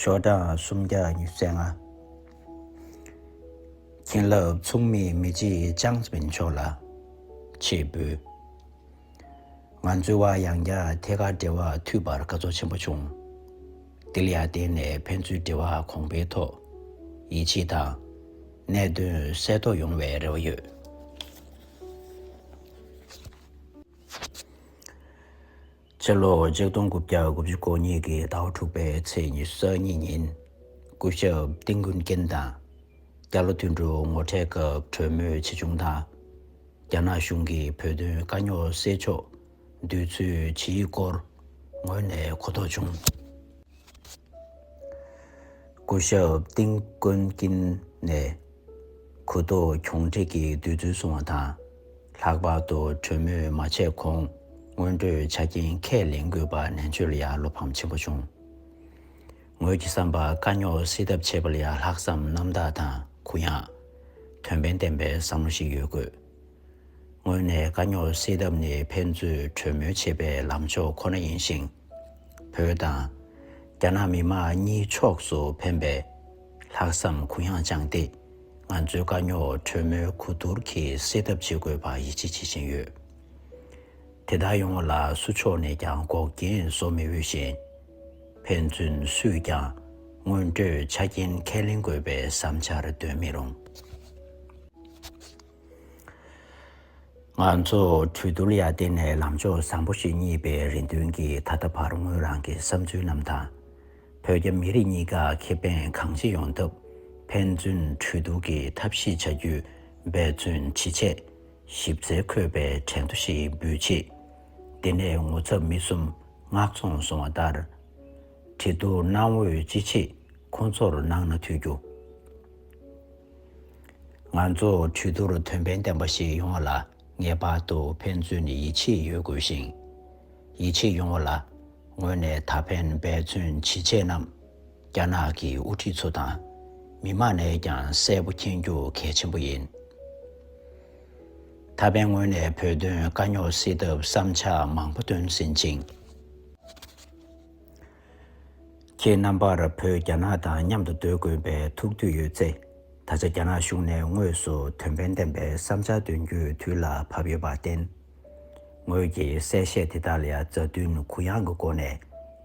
ཞོ་དང་སུམ་བརྒྱ་ཉི་ཚེ་ལྔ། བྱིན་རླབས་མཚུངས་མེད་མི་བརྗེད་བྱང་སེམས་མཆོག་ལ་ཆེས་འབུལ། ང་ཚོའི་བར་ཡང་བསྐྱར་ཐད་ཀར་འབྲེལ་བ་མཐུད་པར་དགའ་ཚོར་ཆེན་པོ་བྱུང། འདི་ལ་ཡར་བརྟེན་ནས་ཕན་ཚུན་འབྲེལ་བ་གོང་འཕེལ་ཐོག་ཡིད་ཆེས་དང་གནད་དོན་གསལ་རྟོགས་ཡོང་བའི་རེ་བ་ཡོད། ཕྱི་ལོ་ཆིག་སྟོང་དགུ་བརྒྱ་དགུ་བཅུ་གོ་གཉིས་ཀྱི་ཟླ་བ་དྲུག་པའི་ཚེས་ཉི་ཤུ་གཉིས་ཉིན་སྐུ་ཞབས་ཏིང་གུན་ཀེན་དང་རྒྱ་ལོ་དུད་འགྲོའི་ངོ་འཕྲད་སྐབས་གྲོས་མོལ་ཆེ་ཆུང་དང། རྒྱ་ནག་གཞུང་གིས་བོད་དོན་དཀའ་རྙོག་སེལ་ཕྱོགས་འདོད་ཚུལ་ཇི་ཡིན་སྐོར་ངོས་ནས་གོ་རྟོགས་བྱུང། སྐུ་ཞབས་ཏིང་གུན་ཀེན་ནས། གུ་དོག་གྱོང་དྲེགས་ཀྱི་བདུད་རྩི་བསྲུང་བ་དང། ལྷག་པར་དུ་གྲོས་མོས་མ་བྱས་གོང་སྔོན་འགྲོའི་ཆ་རྐྱེན་ཁས་ལེན་དགོས་པ་ནན་བརྗོད་ལ་ཡང་བློ་ཕམ་ཆེན་པོ་བྱུང། ངོས་ཀྱི་བསམ་པར་དཀའ་རྙོག་སེལ་ཐབས་བྱེད་པ་ལ་ཡང་ལྷག་བསམ་རྣམ་དག་དང་གུ་ཡངས། དོན་ཕན་ལྡན་པའི་བསམ་བློ་ཞིག་ཡོད་དགོས། དངོས་གནས་དཀའ་རྙོག་སེལ་ཐབས་ནི་ཕན་ཚུན་གྲོས་མོལ་བྱེད་པའི་ལམ་ཕྱོགས་ཁོ་ན་ཡིན་ཞིང། བོད་དང། རྒྱ་ནག་མི་དམངས་གཉིས་ཕྱོགས་སུ་ཕན་པའི་ལྷག་བསམ་གུ་ཡངས་བཅངས་ཏེ་ང་ཚོའི་དཀའ་རྙོག་གྲོས་མོལ་གོ་བསྡུར་གྱིས་སེལ་ཐབས་བྱེད་དགོས་པར་ཡིད་ཆེས་བྱེད་བཞིན་ཡོད། དེ་དག་ཡོང་བ་ལ་སུ་ཕྱོགས་ནས་ཀྱང་འགོག་རྐྱེན་བཟོ་མི་འོས་ཤིང། ཕན་ཚུན་སུས་ཀྱང་སྔོན་འགྲོའི་ཆ་རྐྱེན་ཁས་ལེན་དགོས་པའི་བསམ་འཆར་འདོན་མི་རུང། ང་ཚོ་གྲོས་བསྡུར་ཡར་བརྟེན་ནས་ལམ་ཕྱོགས་བཟང་པོ་ཞིག་རྙེད་པའི་རེ་འདུན་གྱིས་ད་ལྟ་བར་ངོས་རང་གི་བསམ་ཚུལ་རྣམས་དང། བོད་རྒྱ་མི་རིགས་གཉིས་ཀ་ཁེ་ཕན་གང་ཅི་ཡོང་ཐབས་ཕན་ཚུན་གྲོས་བསྡུར་གྱིས་ཐབས་ཤེས་བྱ་རྒྱུ་འབད་བརྩོན་བྱེད་ཆེད། ཞིབ་རྩལ་འཁོད་པའི་དྲན་ཐོ་ཞིག་འབུལ་ཆེད། དེ་ནས་ངོ་ཚབ་མི་གསུམ་ནག་ཚོང་སོང་བ་ལྟར། གྲོས་བསྡུར་གནང་འོས་ཅི་མཆིས་ཁོང་ཚོར་གནང་ན་འཐུས་རྒྱུ། ང་ཚོ་གྲོས་བསྡུར་དོན་ཕན་ལྡན་པ་ཞིག་ཡོང་བ་ལ་ངེས་པར་དུ་ཕན་ཚུན་ནས་ཡིད་ཆེས་ཡོད་དགོས་ཤིང། ཡིད་ཆེས་ཡོང་བ་ལ་ངོས་ནས་ད་ཕན་འབད་བརྩོན་ཇི་བྱས་རྣམས་རྒྱ་ནག་གི་དབུ་ཁྲིད་ཚོ་དང་མི་དམངས་ནས་ཀྱང་གསལ་པོ་མཁྱེན་རྒྱུ་གལ་ཆེན་པོ་ཡིན། ད་ཕན་ངོས་ནས་བོད་དོན་དཀའ་རྙོག་སེལ་ཐབས་བསམ་འཆར་མང་པོ་འདོན་ཟིན་ཅིང། ཁྱེད་རྣམ་པར་བོད་རྒྱ་ནག་དང་མཉམ་དུ་སྡོད་དགོས་པའི་ཐུགས་འདོད་ཡོད་ཚེ། ད་ཆ་རྒྱ་ནག་གཞུང་ནས་དངོས་སུ་དོན་ཕན་ལྡན་པའི་བསམ་འཆར་འདོན་རྒྱུའི་དུས་ལ་བབ་ཡོད་པར་བརྟེན། ངོས་ཀྱིས་གསལ་བཤད་དེ་དག་ལ་མཛའ་མཐུན་གུ་ཡངས་ཀྱི་སྒོ་ནས་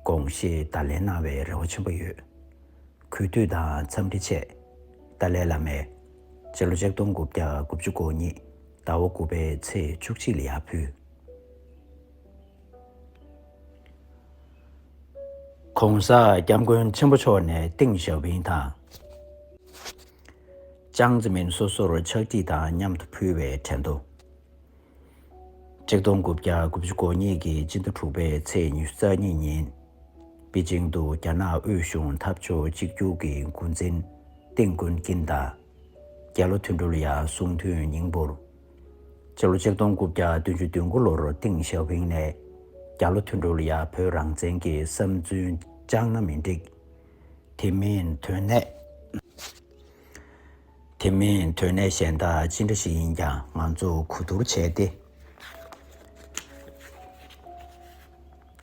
དགོངས་བཞེས་བརྡ་ལན་གནང་བའི་རེ་བ་ཆེན་པོ་ཡོད། གུས་འདུད་དང་འཚམས་འདྲི་ཆེ། ཏཱ་ལའི་བླ་མས། སྤྱི་ལོ་ཆིག་སྟོང་དགུ་བརྒྱ་དགུ་བཅུ་གོ་གཉིས་ཟླ་བ་དགུ་པའི་ཚེས་བཅུ་གཅིག་ལ་ཡར་ཕུལ། ྋགོང་ས ྋསྐྱབས་མགོན་ཆེན་པོ་མཆོག་ནས་ཏིང་ཞའོ་ཕིང་དང་ཅང་ཙེ་མིན་སོ་སོར་ཕྱག་བྲིས་དང་མཉམ་དུ་ཕུལ་བའི་དྲན་ཐོ། ཆིག་སྟོང་དགུ་བརྒྱ་དགུ་བཅུ་གོ་གཉིས་ཀྱི་སྤྱི་ཟླ་དྲུག་པའི་ཚེས་ཉི་ཤུ་རྩ་གཉིས་ཉིན། པེ་ཅིང་དུ་རྒྱ་ནག་དབུས་གཞུང་འཐབ་ཕྱོགས་གཅིག་གྱུར་གྱི་མགོ་འཛིན་ཏིང་ཀོན་ཀིན་དང་རྒྱལ་ལོ་ཐུན་ཀྲོ་ལི་ཡཱ་གསུང་འཐུས་ཉིང་པོར་སྤྱི་ལོ་ཆིག་སྟོང་དགུ་བརྒྱ་བདུན་ཅུ་བདུན་དགུ་ལོར་ཏིང་ཞའོ་ཕིང་ནས། རྒྱ་ལོ་ཐུན་དྲུག་ལ་ཡང་བོད་རང་བཙན་གྱི་བསམ་ཚུལ་བཅངས་ན་མི་འགྲིག། དེ་མིན་དོན་གནད། དེ་མིན་དོན་གནད་གཞན་དག་ཅི་འདྲ་ཞིག་ཡིན་ཀྱང་ང་ཚོ་གོ་བསྡུར་བྱས་ཏེ།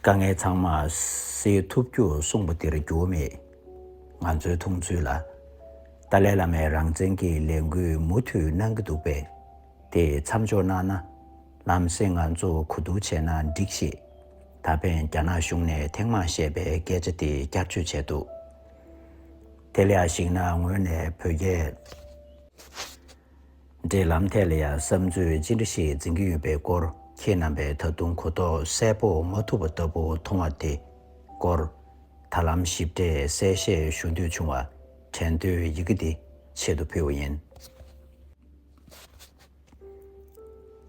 དཀའ་ངལ་ཚང་མ་སེལ་ཐུབ་རྒྱུ་གསུངས་པ་དེར་འགྱུར་བ་མེད། ང་ཚོའི་མཐོང་ཚུལ་ལ། ཏཱ་ལའི་བླ་མས་རང་བཙན་གྱི་ལས་འགུལ་མུ་མཐུད་གནང་གི་འདུག་པས། དེ་མཚམས་འཇོག་གནང་ན། ལམ་སེང་ང་ཚོ་གོ་བསྡུར་བྱས་ན་འགྲིག་ཞེས། ད་ཕན་རྒྱ་ནག་གཞུང་ནས་ཐེངས་མང་བཤད་པའི་སྐད་ཆ་དེ་བསྐྱར་བཅོས་བྱས་འདུག་དེ་ལས་གཞིགས་ན་ངོས་ནས་བོད་རྒྱལ། འབྲེལ་ལམ་ཐད་ལ་ཡང་བསམ་ཚུལ་ཅི་འདྲ་ཞིག་འཛིན་གྱི་ཡོད་པའི་སྐོར་ཁྱེད་རྣམ་པས་ད་དུང་གོ་རྟོགས་གསལ་པོ་མ་ཐུབ་པ་ལྟ་བུ་མཐོང་བ་དེ་སྐོར། ད་ལམ་ཞིབ་ཕྲའི་གསལ་བཤད་ཞུ་འདོད་བྱུང་བ་དྲན་དུས་ཡི་གེ་འདི་ཆེད་དུ་ཕུལ་བ་ཡིན།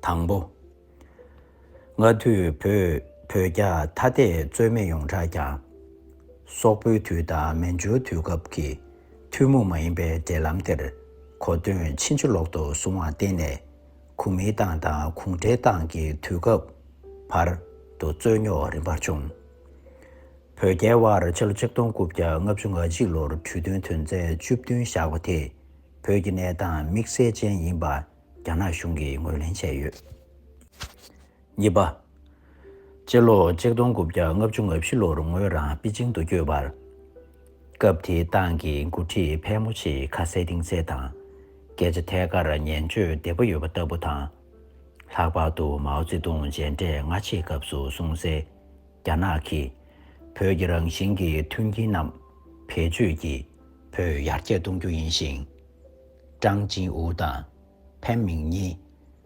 དང་པོ། སྔ་དུས་བོད་བོད་རྒྱ་ཐ་དད་རྩོད་མེད་ཡོངས་གྲགས་ཀྱང། སོག་པོའི་དུས་དང་མན་ཇུའི་དུས་སྐབས་ཀྱི་ཐུན་མོང་མ་ཡིན་པའི་འབྲེལ་ལམ་དེར་གོ་དོན་ཕྱིན་ཅི་ལོག་ཏུ་བཟུང་བར་བརྟེན་ནས་གུང་མིའི་ཏང་དང་གུང་ཁྲན་ཏང་གི་དུས་སྐབས་བར་དུ་རྩོད་རྙོག་རིམ་པར་བྱུང། བོད་རྒྱའི་དབར་ཕྱི་ལོ་ཆིག་སྟོང་དགུ་བརྒྱ་ལྔ་བཅུ་ང་གཅིག་ལོར་གྲོས་མཐུན་དོན་ཚན་བཅུ་བདུན་བཞག་པ་དེ་བོད་ཀྱི་གནས་སྟངས་དམིགས་བསལ་ཅན་ཡིན་པ། རྒྱ་ནག་གཞུང་གིས་ངོས་ལེན་བྱས་ཡོད། གཉིས་པ། སྤྱི་ལོ་ཆིག་སྟོང་དགུ་བརྒྱ་ལྔ་བཅུ་ང་བཞི་ལོར་ངོས་རང་པི་ཅིང་དུ་བསྐྱོད་པར། སྐབས་དེའི་ཏང་གི་འགོ་ཁྲིད་ཕལ་མོ་ཆེས་ཁ་ཟས་གཏིང་ཟས་དང། སྐད་ཆ་ཐད་ཀར་ཉན་སྤྱོད་བདེ་པོ་ཡོད་པ་ལྟ་བུ་དང། ལྷག་པར་དུ་མའོ་ཙེ་ཏུང་མཇལ་འཕྲད་སྔ་ཕྱིའི་སྐབས་སུ་གསུང་གསལ། རྒྱ་ནག་གིས་བོད་ཀྱི་རང་བཞིན་གྱི་མཐུན་རྐྱེན་རྣམས་བེད་སྤྱོད་ཀྱིས་བོད་ཡར་རྒྱས་གཏོང་རྒྱུ་ཡིན་ཞིང། ཀྲང་ཅིན་ཨུ་དང་ཕེན་མིང་གཉིས་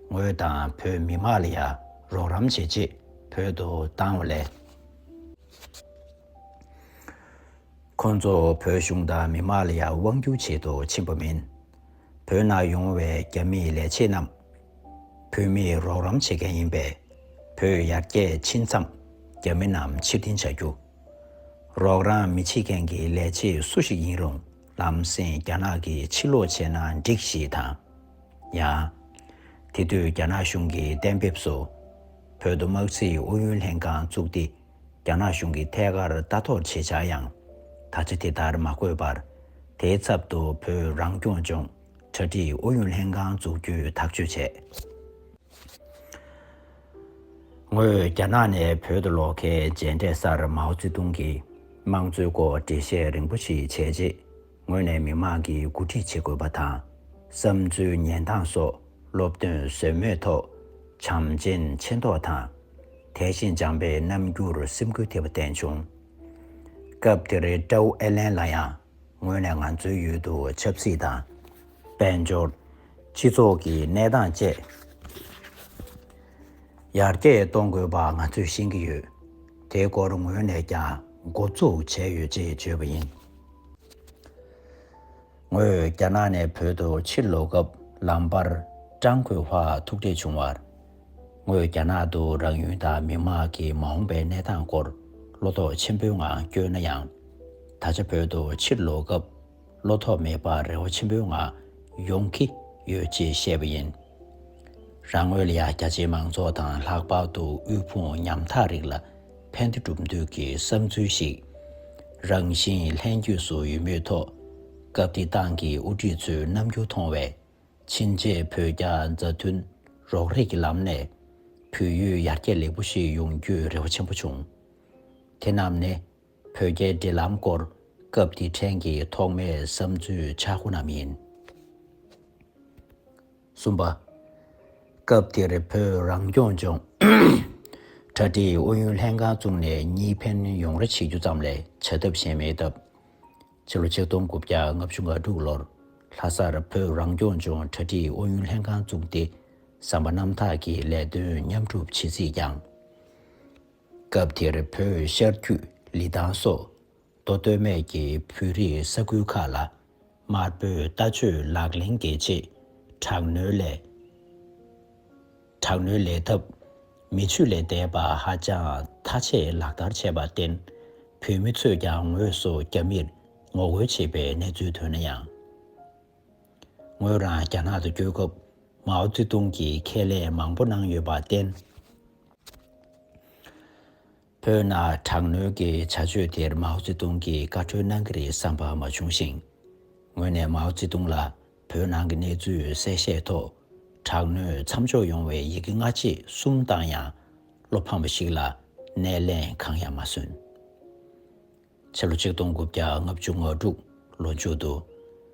ངོས་དང་བོད་མི་དམངས་ལ་ཡང་རོགས་རམ་བྱེད་ཆེད་བོད་དུ་བཏང་བ་ལས། ཁོང་ཚོ་བོད་གཞུང་དང་མི་དམངས་ལ་ཡང་དབང་སྒྱུར་བྱེད་དུ་ཕྱིན་པ་མིན། བོད་ནང་ཡོང་བའི་རྒྱ་མིའི་ལས་བྱེད་རྣམས་བོད་མིས་རོགས་རམ་བྱེད་མཁན་ཡིན་པས་བོད་ཡར་རྒྱས་ཕྱིན་མཚམས་རྒྱ་མི་རྣམས་ཕྱིར་འཐེན་བྱ་རྒྱུ། རོགས་རམ་མི་བྱེད་མཁན་གྱི་ལས་བྱེད་སུ་ཞིག་ཡིན་རུང། ལམ་སེང་རྒྱ་ནག་གིས་ཕྱིར་ལོག་བྱས་ན་འགྲིག་ཞེས་དང། ཡང། དེ་དུས་རྒྱ་ནག་གཞུང་གིས་གཏན་འབེབས་སུ། བོད་དུ་དམག་རྩིས་ཨུ་ཡོན་ལྷན་ཁང་བཙུགས་ཏེ་རྒྱ་ནག་གཞུང་གིས་ཐད་ཀར་ལྟ་རྟོག་བྱེད་བྱ་ཡང། ད་ཆ་དེ་ལྟར་མ་དགོས་པར། དེའི་ཚབ་ཏུ་བོད་རང་སྐྱོང་ལྗོངས་གྲ་སྒྲིག་ཨུ་ཡོན་ལྷན་ཁང་འཛུགས་རྒྱུའི་ཐག་གཅོད་བྱས། ངོས་རྒྱ་ནག་ནས་བོད་དུ་ལོག་མཁན་མཇལ་འཕྲད་སར་མའོ་ཙེ་ཏུང་གིས་དམངས་གཙོའི་སྐོར་འགྲེལ་བཤད་རིང་པོ་ཞིག་བྱས་རྗེས་ངོས་ནས་མི་མང་གིས་འགོ་ཁྲིད་བྱེད་དགོས་པ་དང། བསམ་ཚུལ་ཉན་སྟངས་སོགས་སློབ་སྟོན་ཟོལ་མེད་ཐོག་བྱམས་ཆེན་ཆེ་མདོག་དང། དད་གཤིན་འཇམ་པའི་རྣམ་འགྱུར་སེམས་འགུལ་ཐེབས་པ་བསྟན་བྱུང། སྐབས་དེར་ཀྲའུ་ཨེ་ལན་ལ་ཡང། ངོས་ནས་ང་ཚོའི་ཡུལ་དུ་ཆབ་སྲིད་དང། དཔལ་འབྱོར། སྤྱི་ཚོགས་ཀྱི་གནས་སྟངས་བཅས་ཡར་རྒྱས་གཏོང་དགོས་པ་ང་ཚོས་ཤེས་ཀྱི་ཡོད། དེའི་སྐོར་ངོས་ནས་ཀྱང་འགོ་བཙུགས་བྱས་ཡོད་ཅེས་བརྗོད་པ་ཡིན། ངོས་རྒྱ་ནག་ནས་བོད་དུ་ཕྱིར་ལོག་སྐབས་ལམ་བར་ཀྲང་ཁོའི་བྷག་ཐུག་འཕྲད་བྱུང་བར། ངོས་རྒྱ་ནག་ཏུ་རང་ཡུལ་དང་མི་དམངས་ཀྱི་མ་འོངས་པའི་གནས་སྟངས་སྐོར་བློ་དོགས་ཆེན་པོའི་ངང་བསྐྱོད་ན་ཡང། ད་ཆ་བོད་དུ་ཕྱིར་ལོག་སྐབས་བློ་ཐོག་མེད་པར་རེ་བ་ཆེན་པོའི་ངང་ཡོང་གི་ཡོད་ཅེས་བཤད་པ་ཡིན། རང་ངོས་ལ་ཡང་རྒྱ་ཆེའི་མང་ཚོགས་དང་ལྷག་པར་དུ་དབུལ་ཕོངས་ཉམ་ཐག་རིགས་ལ་ཕན་བདེ་སྒྲུབ་འདོད་ཀྱི་བསམ་ཚུལ་ཞིག་རང་བཞིན་ལྷན་སྐྱེས་སུ་ཡོད་མུས་ཐོག་སྐབས་དེའི་ཏང་གི་དབུ་ཁྲིད་ཚོའི་རྣམ་འགྱུར་མཐོང་བས། ཕྱིན་ཆད་བོད་རྒྱ་མཛའ་མཐུན་རོགས་རེས་ཀྱི་ལམ་ནས་བོད་ཡུལ་ཡར་རྒྱས་ལེགས་པོ་ཞིག་ཡོང་རྒྱུའི་རེ་བ་ཆེན་པོ་བྱུང། དེ་རྣམས་ནི་བོད་རྒྱའི་འབྲེལ་ལམ་སྐོར་སྐབས་དེའི་ཕྲན་གྱི་ཐོག་མའི་བསམ་ཚུལ་ཆ་དགུ་རྣམས་ཡིན། གསུམ་པ། སྐབས་དེར་བོད་རང་སྐྱོང་ལྗོངས་གྲ་སྒྲིག་ཨུ་ཡོན་ལྷན་ཁང་བཙུགས་ནས་གཉིས་ཕན་ཡོང་རེ་བྱེད་རྒྱུ་ཙམ་ལས་བྱ་ཐབས་གཞན་མེད་སྟབས། ཕྱི་ལོ་ཆིག་སྟོང་དགུ་བརྒྱ་ལྔ་བཅུ་ང་དྲུག་ལོར་ལྷ་སར་བོད་རང་སྐྱོང་ལྗོངས་གྲ་སྒྲིག་ཨུ་ཡོན་ལྷན་ཁང་བཙུགས་ཏེ་བསམ་པ་རྣམ་དག་གི་ལས་དོན་མཉམ་སྒྲུབ་བྱེད་རྩིས་བསྐྱངས། སྐབས་དེར་བོད་ཤར་རྒྱུད་ལི་ཐང་སོགས་མདོ་སྟོད་སྨད་ཀྱི་བོད་རིགས་ས་ཁུལ་ཁག་ལ་དམར་པོའི་ལྟ་སྤྱོད་ལག་ལེན་གྱི་ཆེད་དྲག་གནོན་སླད། དྲག་གནོན་ལས་ཐབས་མི་ཆོས་ལས་འདས་པ་ཧ་ཅང་མཐའ་ཆད་ལག་བསྟར་བྱས་པར་བརྟེན། བོད་མི་ཚོས་ཀྱང་ངོས་སུ་རྒྱ་མིར་ངོ་རྒོལ་བྱེད་པའི་གནས་ཚུལ་ཐོན་ན་ཡང། ངོས་རང་རྒྱ་ནག་ཏུ་སྐྱོད་སྐབས་མའོ་ཙེ་ཏུང་གིས་ཁས་ལེན་མང་པོ་གནང་ཡོད་པར་བརྟེན། བོད་ནང་དྲག་གནོན་གྱི་བྱ་སྤྱོད་དེར་མའོ་ཙེ་ཏུང་གིས་བཀའ་ཁྲོལ་གནང་གི་རེད་བསམ་པ་མ་བྱུང་ཞིང། ངོས་ནས་མའོ་ཙེ་ཏུང་ལ་བོད་ནང་གི་གནས་ཚུལ་གསལ་བཤད་ཐོག་དྲག་གནོན་མཚམས་འཇོག་ཡོང་བའི་ཡི་གེ་སྔ་རྗེས་གསུམ་བཏང་ཡང་བློ་ཕམ་པ་ཞིག་ལ་སྣེ་ལེན་གང་ཡང་མ་སོན། ཕྱི་ལོ་ཆིག་སྟོང་དགུ་བརྒྱ་ལྔ་བཅུ་ང་དྲུག་ལོ་མཇུག་ཏུ་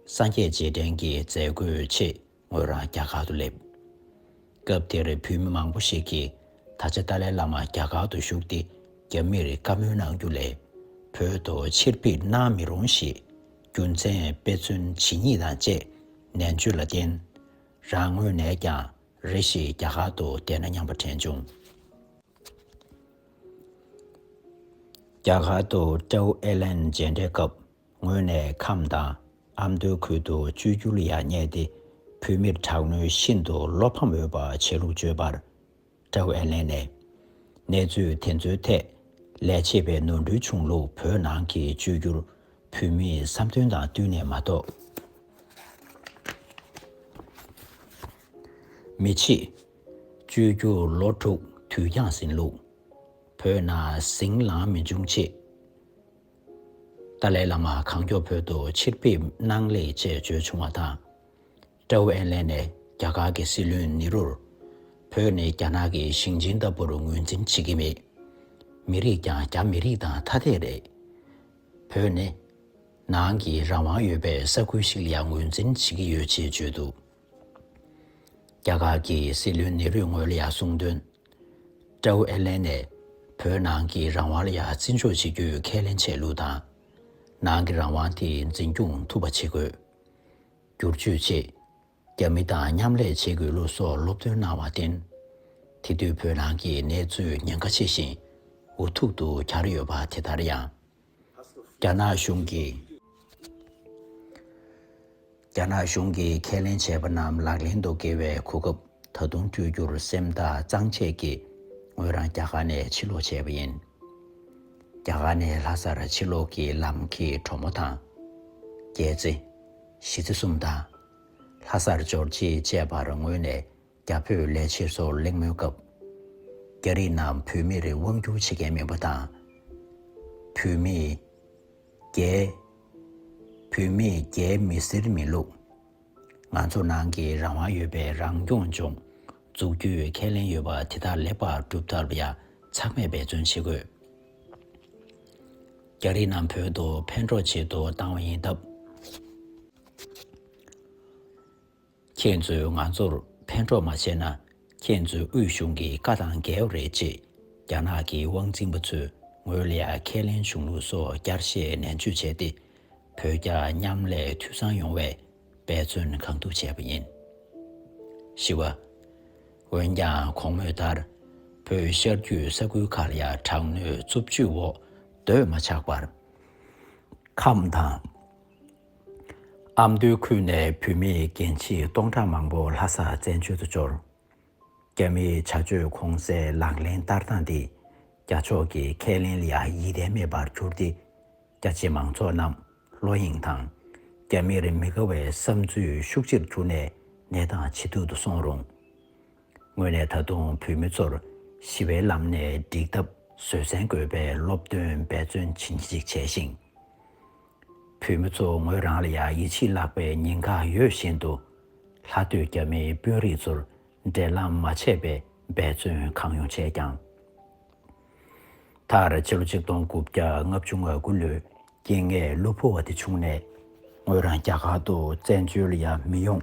སངས་རྒྱས་རྗེས་དྲན་གྱི་མཛད་སྒོའི་ཆེད་ངོས་རང་རྒྱ་གར་དུ་སླེབས། སྐབས་དེར་བོད་མི་མང་པོ་ཞིག་གིས་ད་ཆ་ཏཱ་ལའི་བླ་མ་རྒྱ་གར་དུ་བཞུགས་ཏེ་རྒྱ་མིར་བཀའ་མོལ་གནང་རྒྱུ་ལས་བོད་དུ་ཕྱིར་ཕེབས་གནང་མི་རུང་ཞེས་རྒྱུ་མཚན་དཔེ་མཚོན་ཇི་སྙེད་དང་བཅས་ནན་བརྗོད་ལ་བརྟེན། རང་ངོས་ནས་ཀྱང་རེ་ཞིག་རྒྱ་གར་དུ་བསྡད་ན་སྙམ་པ་དྲན་བྱུང། རྒྱ་གར་དུ་ཀྲའུ་ཨེ་ལན་མཇལ་འཕྲད་སྐབས་ངོས་ནས་ཁམས་དང་ཨ་མདོའི་ཁུལ་དུ་བཅོས་བསྒྱུར་ཡག་རྙེད་དེ་བོད་མིར་དྲག་གནོན་ཤིན་ཏུ་བློ་ཕམ་འོས་པ་བྱས་ལུགས་བརྗོད་པར། ཀྲའོ་ཨེ་ལེན་ནས། གནས་ཚུལ་དེ་ཚོའི་ཐད་ལས་བྱེད་པའི་ནོར་འཁྲུལ་བྱུང་ལུགས་བོད་ནང་གི་བཅོས་བསྒྱུར་བོད་མིའི་བསམ་འདུན་དང་བསྟུན་ནས་མ་གཏོགས་མི་བྱེད། བཅོས་བསྒྱུར་ལོ་དྲུག་དུས་འགྱངས་ཟིན་ལུགས། བོད་ནང་ཟིང་ལངས་མི་འབྱུང་ཆེད། ཏཱ་ལའི་བླ་མ་གང་མགྱོགས་བོད་དུ་ཕྱིར་ཕེབས་གནང་ལེགས་ཅེས་བརྗོད་བྱུང་བ་དང། ཀྲའོ་ཨེན་ལན་ནས་རྒྱ་གར་གྱི་སྲིད་བློན་ནེ་རུར། བོད་ནི་རྒྱ་ནག་གི་ཞིང་ཆེན་ལྟ་བུར་ངོས་འཛིན་བྱེད་ཀྱི་མེད། མི་རིགས་ཀྱང་རྒྱ་མི་རིགས་དང་ཐ་དད་རེད། བོད་ནི། ནང་གི་རང་དབང་ཡོད་པའི་ས་ཁུལ་ཞིག་ལ་ཡང་ངོས་འཛིན་བྱེད་ཀྱི་ཡོད་ཅེས་བརྗོད་འདུག་རྒྱ་གར་གྱི་སྲིད་བློན་ནེ་རུས་ངོས་ལ་ཡང་གསུངས་དོན། ཀྲའོ་ཨེར་ལན་ནས་བོད་ནང་གི་རང་དབང་ལ་ཡང་བརྩི་འཇོག་བྱེད་རྒྱུའི་ཁས་ལེན་བྱས་ལུགས་དང། ནང་གི་རང་དབང་དེ་འཛིན་སྐྱོང་ཐུབ་པ་བྱེད་དགོས། སྒྱུར་བཅོས་ཆེད་རྒྱ་མི་དང་མཉམ་ལས་བྱེད་དགོས་ལུགས་སོགས་སློབ་སྟོན་གནང་བར་བརྟེན། དེ་དུས་བོད་ནང་གི་གནས་ཚུལ་ཉེན་ཁ་ཆེ་ཞིང་འུ་ཐུག་ཏུ་གྱར་ཡོད་པ་དེ་ལྟར་ཡང། རྒྱ་ནག་གཞུང་གིས་ཁས་ལེན་བྱས་པ་རྣམས་ལག་ལེན་དུ་འཁེལ་བའི་གོ་སྐབས་ད་དུང་སྤྲོད་རྒྱུར་སེམས་ཐག་གཙང་བཅད་ཀྱིས་ངོས་རང་རྒྱ་གར་ནས་ཕྱིར་ལོག་བྱས་པ་ཡིན། རྒྱ་གར་ནས་ལྷ་སར་ཕྱིར་ལོག་གི་ལམ་གྱི་གྲོ་མོ་དང། རྒྱལ་རྩེ། གཞིས་རྩེ་གསུམ་དང། ལྷ་སར་འབྱོར་རྗེས་བཅས་པར་ངོས་ནས་རྒྱ་བོད་ལས་བྱེད་ཚོར་གླེང་མོལ་སྐབས། རྒྱ་རིགས་རྣམས་བོད་མིར་དབང་བསྒྱུར་བྱེད་མཁན་མིན་པ་དང། བོད་མིས། རྒྱའི། བོད་མིས་རྒྱའི་མི་སེར་མིན་ལུགས། ང་ཚོ་ནང་གི་རང་དབང་ཡོད་པའི་རང་སྐྱོང་ལྗོངས་འཛུགས་རྒྱུའི་ཁས་ལེན་ཡོད་པ་དེ་དག་ལེགས་པར་སྒྲུབ་ཐབས་ཡ་ཚང་མེད་འབད་བརྩོན་བྱེད་དགོས། རྒྱ་རིགས་རྣམས་བོད་དུ་ཕན་གྲོགས་བྱེད་དུ་བཏང་བ་ཡིན་སྟབས། ཁྱེད་ཚོས་ང་ཚོར་ཕན་གྲོགས་མ་བྱས་ན་ཁྱེད་ཚོའི་དབུས་གཞུང་གི་བཀའ་དང་འགལ་བ་རེད་ཅེས་རྒྱ་ནག་གི་དབང་འཛིན་པ་ཚོས་ངོས་ལ་ཁས་ལེན་བྱུང་ལུགས་སོགས་བསྐྱར་བཤད་ནན་བརྗོད་བྱས་ཏེ། བོད་རྒྱ་མཉམ་ལས་འཐུས་ཚང་ཡོང་བའི་འབད་བརྩོན་གང་ཐུབ་བྱས་པ་ཡིན། བཞི་བ། འོན་ཀྱང་གོང་སྨོས་ལྟར་བོད་ཤར་རྒྱུད་ས་ཁུལ་ཁག་ལ་དྲག་གནོན་རྩུབ་སྤྱོད་འོག་སྡོད་མ་ཆགས་པར། ཁམས་དང། ཨ་མདོའི་ཁུལ་ནས་བུད་མེད་རྒན་བྱིས་སྟོང་ཕྲག་མང་པོ་ལྷ་སར་བཙན་བྱོལ་དུ་འབྱོར། རྒྱ་མིའི་བྱ་སྤྱོད་གོང་གསལ་ལག་ལེན་བསྟར་སྟངས་འདིས་རྒྱ་ཕྱོགས་ཀྱི་ཁས་ལེན་ལ་ཡང་ཡིད་བརྟན་མེད་པར་གྱུར་ཏེ། རྒྱ་ཆེ་མང་ཚོགས་རྣམས་བློ་གཡེང་དང། རྒྱ་མིར་མི་དགའ་བའི་བསམ་ཚུལ་ཤུགས་ཆེར་གྱུར་ནས་ནད་དང་ཇེ་སྡུག་ཏུ་སོང་རུང། ངོས་ནས་ད་དུང་བུད་མེད་ཚོར་ཞི་བའི་ལམ་ནས་འགྲིག་ཐབས་བཟོད་བསྲན་དགོས་པའི་སློབ་སྟོན་འབད་བརྩོན་བྱིན་གྱིས་བརྗིད་ཅིག་བྱས་ཤིང། བོད་མི་ཚོ་ངོས་རང་ལ་ཡང་ཡིད་ཆེས་བརླག་པའི་ཉེན་ཁ་ཡོད་བཞིན་དུ། ལྷ་སྟོད་རྒྱ་མིའི་དཔོན་རིགས་ཚོར་འབྲེལ་ལམ་མ་བྱས་པའི་འབད་བརྩོན་གང་ཡོང་བྱས་ཀྱང། མཐར་ཕྱི་ལོ་ཆིག་སྟོང་དགུ་བརྒྱ་ལྔ་བཅུ་ང་དགུ་ལོའི་རྐྱེན་ངན་གློ་བུར་བ་དེ་བྱུང་ནས། ངོས་རང་རྒྱ་གར་དུ་བཙན་བྱོལ་ཡང་མི་ཡོང་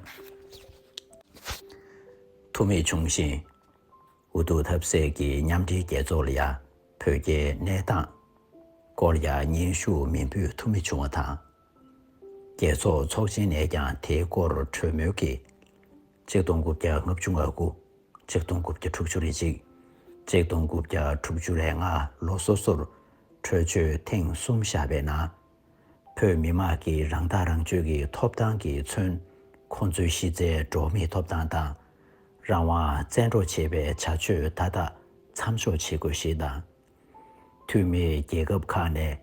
ཐུབ་མེད་བྱུང་ཞིང། འུ་ཐུག་ཐབས་ཟད་ཀྱི་མཉམ་འབྲེལ་རྒྱལ་ཚོགས་ལ་ཡང་བོད་རྒྱའི་གནས་སྟངས་སྐོར་ཡང་སྙན་ཞུ་མི་འབུལ་ཐུབ་མི་བྱུང་བ་དང། རྒྱལ་ཚོགས་ཚོགས་ཆེན་ནས་ཀྱང་དེའི་སྐོར་གྲོས་མོལ་གྱིས། གཅིག་སྟོང་དགུ་བརྒྱ་ལྔ་བཅུ་ང་དགུ། གཅིག་སྟོང་དགུ་བརྒྱ་དྲུག་ཅུ་རེ་གཅིག། གཅིག་སྟོང་དགུ་བརྒྱ་དྲུག་ཅུ་རེ་ལྔ་ལོ་སོ་སོར་གྲོས་ཆོད་ཐེངས་གསུམ་བཞག་པའི་ནང་བོད་མི་དམངས་ཀྱི་རང་ཐག་རང་གཅོད་ཀྱི་ཐོབ་ཐང་གིས་མཚོན། ཁོང་ཚོའི་གཞི་རྩའི་འགྲོ་མིའི་ཐོབ་ཐང་དང། རང་དབང་བཙན་འཕྲོག་བྱེད་པའི་བྱ་སྤྱོད་མཐའ་དག་མཚམས་འཇོག་བྱེད་དགོས་ཞེས་དང། འཐུས་མིས་རྒྱལ་ཁབ་ཁག་ནས་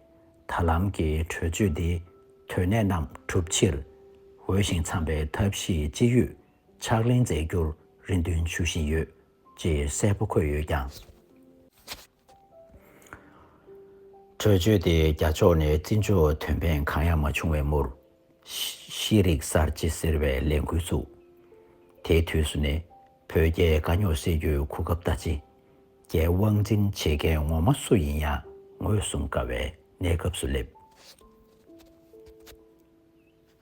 ད་ལམ་གྱི་གྲོས་ཆོད་འདི་དོན་གནད་རྣམས་གྲུབ་ཕྱིར། འོས་ཤིང་འཚམས་པའི་ཐབས་ཤེས་ཅི་ཡོད་ཕྱག་ལེན་མཛད་རྒྱུར་རེ་འདུན་ཞུ་བཞིན་ཡོད་ཅེས་གསལ་པོ་འཁོད་ཡོད་ཀྱང། གྲོས་ཆོད་དེ་རྒྱ་ཕྱོགས་ནས་བརྩི་འཇོག་དོན་ཕན་གང་ཡང་མ་བྱུང་བའི་མུར། ཤེས་རིག་གསར་བརྗེ་ཟེར་བའི་ལས་འགུལ་བཙུགས། དེའི་དུས་སུ་ནི་བོད་རྒྱའི་དཀའ་རྙོག་སེལ་རྒྱུའི་གོ་སྐབས་ལྟ་ཅི། རྒྱའི་དབང་འཛིན་བྱེད་མཁན་ངོ་མ་སུ་ཡིན་ཡང་ངོས་བཟུང་དཀའ་བའི་གནས་སྐབས་སུ་སླེབས།